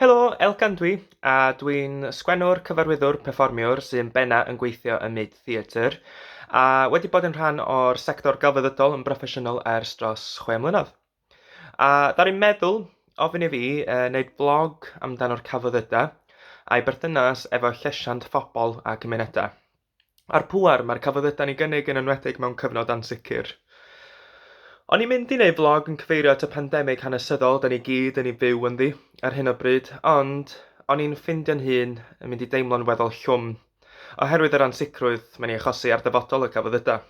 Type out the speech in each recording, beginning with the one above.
Helo, Elgan dwi, a dwi'n sgwennwr, cyfarwyddwr, perfformiwr sy'n benna yn gweithio ym myd theatr, a wedi bod yn rhan o'r sector gelfyddydol yn broffesiynol ers dros chwe mlynedd. A ddaru meddwl ofyn i fi e, wneud blog amdano'r celfyddydau a'i berthynas efo llesiant phobl a cymunedau. A'r pŵer mae'r celfyddydau'n ei gynnig yn enwedig mewn cyfnod ansicr. O'n i'n mynd i wneud vlog yn cyfeirio at y pandemig hanesyddol da ni gyd yn ei fyw ynddi ar hyn o bryd, ond o'n i'n ffindio'n hun yn mynd i deimlo'n weddol llwm oherwydd yr ansicrwydd mae'n ei achosi ar ddyfodol y celfyddydau.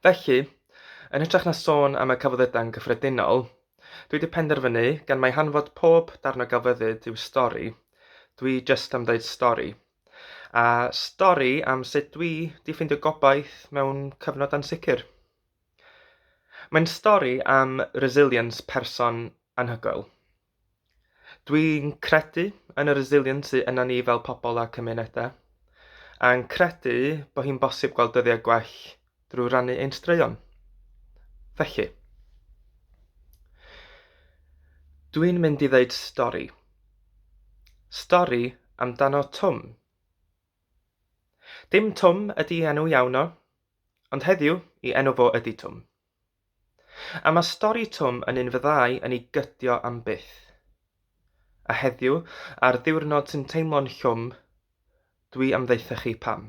Felly, yn hytrach na sôn am y celfyddydau yn gyffredinol, dwi 'di penderfynu, gan mai hanfod pob darn o gelfyddyd yw stori, dwi jyst am ddeud stori. A stori am sut dwi 'di ffeindio gobaith mewn cyfnod ansicr. Mae'n stori am resilience person anhygoel. Dwi'n credu yn y resilience sy yna ni fel pobl a cymunedau, a'n credu bod hi'n bosib gweld dyddiau gwell drwy rannu ein straeon. Felly, dwi'n mynd i ddeud stori. Stori amdano Twm. Dim Twm ydy enw iawn o, ond heddiw i enw fo ydy Twm. A mae stori Twm yn un fyddai yn ei gydio am byth. A heddiw, ar ddiwrnod sy'n teimlo'n llwm, dwi am ddaethu chi pam.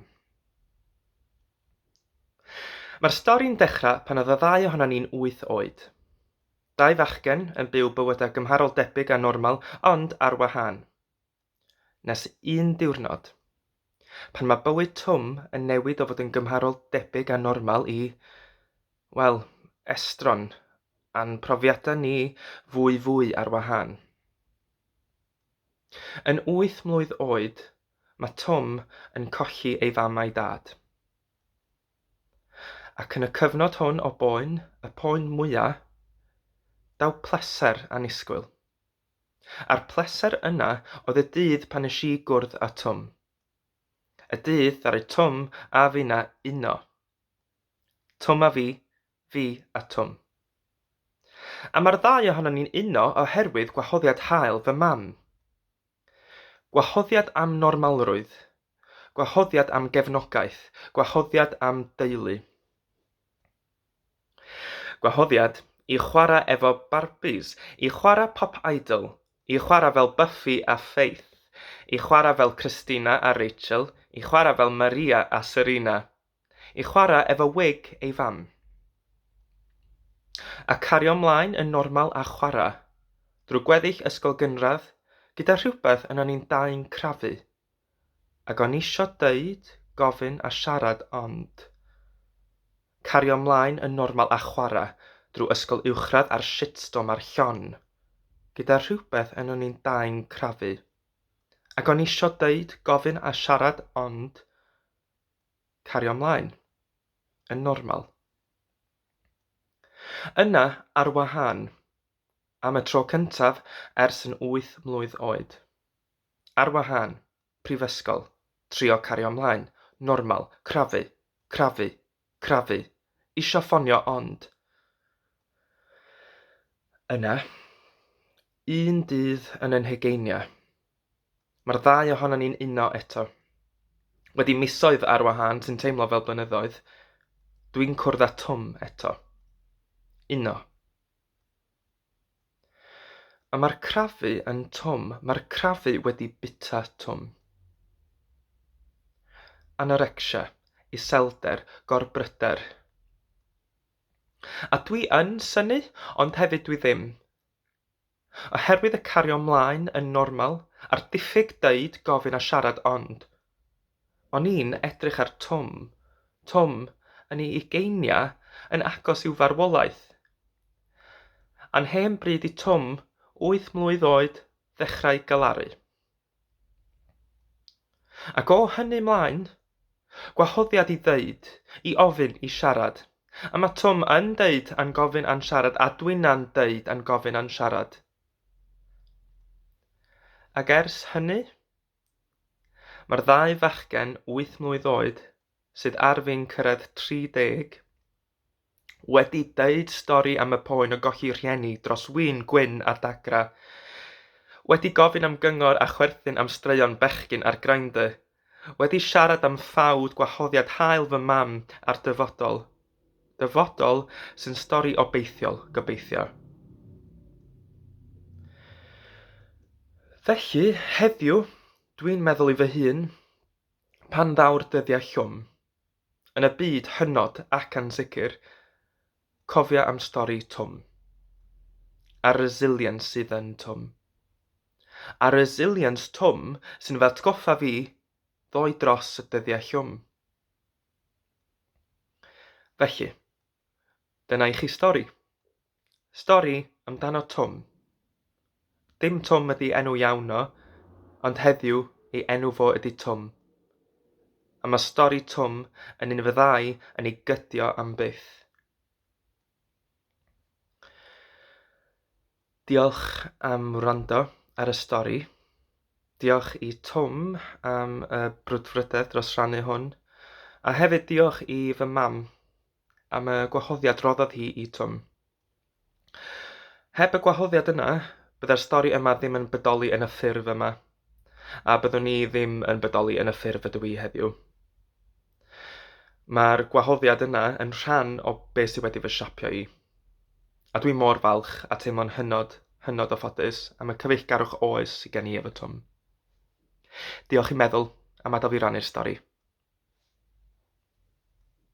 Mae'r stori'n dechrau pan oedd y ddau ohonan ni'n wyth oed. Dau fachgen yn byw bywydau gymharol debyg a normal, ond ar wahân. Nes un diwrnod. Pan mae bywyd Twm yn newid o fod yn gymharol debyg a normal i, wel, estron, a'n profiadau ni fwyfwy ar wahân. Yn wyth mlwydd oed, mae Twm yn colli ei fam a'i dad. Ac yn y cyfnod hwn o boen, y poen mwya', daw pleser annisgwyl. A'r pleser yna oedd y dydd pan nes i gwrdd â Twm. Y dydd ddaru Twm a finna uno. Twm a fi, fi a Twm. A mae'r ddau ohonon ni'n uno oherwydd gwahoddiad hael fy mam. Gwahoddiad am normalrwydd. Gwahoddiad am gefnogaeth. Gwahoddiad am deulu. Gwahoddiad i chwarae efo Barbies, i chwarae Pop Idol, i chwarae fel Buffy a Faith, i chwarae fel Christina a Rachel, i chwarae fel Maria a Serena, i chwarae efo wig ei fam. A cario 'mlaen yn normal a chwarae, drwy gweddill ysgol gynradd, gyda rhywbeth yna ni'n dau'n crafu Ac o'n isio deud, gofyn a siarad ond cario mlaen yn normal a chwara drw ysgol uwchradd a'r shitstorm ar Sion gyda rhywbeth yn o'n i'n dau'n crafu. Ac o'n isio deud, gofyn a siarad ond cario mlaen yn normal. Yna, ar wahân. Am y tro cyntaf ers yn wyth mlwydd oed. Ar wahân, prifysgol, trio cario mlaen, normal, crafu, crafu, crafu, isio ffonio ond. Yna, un dydd yn y nhegeinia, mae'r ddau ohonon ni'n uno eto. Wedi misoedd ar wahân sy'n teimlo fel blynyddoedd, dwi'n cwrdd â Twm eto. Uno. A mae'r crafu yn twm, mae'r crafu wedi bita twm. Anorecsia, iselder, gorbryder. A dwi yn synnu, ond hefyd dwi ddim. Oherwydd y cario mlaen yn normal, a'r diffyg deud, gofyn a siarad ond, O'n i'n edrych ar Twm. Twm, yn ei ugeiniau, yn agos i'w farwolaeth. A'n hen bryd i Twm, wyth mlwydd oed, ddechrau galaru. Ac o hynny 'mlaen, gwahoddiad i ddeud, i ofyn, i siarad. A mae Twm yn deud a'n gofyn a'n siarad a Dwina'n deud a'n gofyn a'n siarad. Ac ers hynny? Mae'r ddau fachgen wyth mlwydd oed, sydd ar fin cyrraedd 30, wedi deud stori am y poen o golli rhieni dros win gwyn a dagra, wedi gofyn am gyngor a chwerthin am straeon bechgyn ar Grindr, wedi siarad am ffawd gwahoddiad hael fy mam a'r dyfodol, Dyfodol sy'n stori obeithiol, gobeithio. Felly, heddiw, dwi'n meddwl i fy hun, pan ddaw'r dyddiau llwm, yn y byd hynod ac ansicr, cofia am stori Twm. A resilience sydd yn Twm. A resilience Twm sy'n fy atgoffa fi ddoi dros y dyddiau llwm. Felly, dyna i chi stori. Stori amdano Twm. Dim Twm ydi enw iawn o, ond heddiw ei enw fo ydi Twm. A mae stori Twm yn un fyddai yn ei gydio am byth. Diolch am wrando ar y stori. Diolch i Twm am y brwdfrydedd dros rannu hwn. A hefyd diolch i fy mam am y gwahoddiad roddodd hi i Twm. Heb y gwahoddiad yna, byddai'r stori yma ddim yn bodoli yn y ffurf yma, a byddwn i ddim yn bodoli yn y ffurf ydw i heddiw. Mae'r gwahoddiad yna yn rhan o be sydd wedi fy siapio i. A dwi mor falch a teimlo'n hynod, hynod o ffodus am y cyfeillgarwch oes sy gen i efo Twm. Diolch i Meddwl am adael fi rannu'r stori.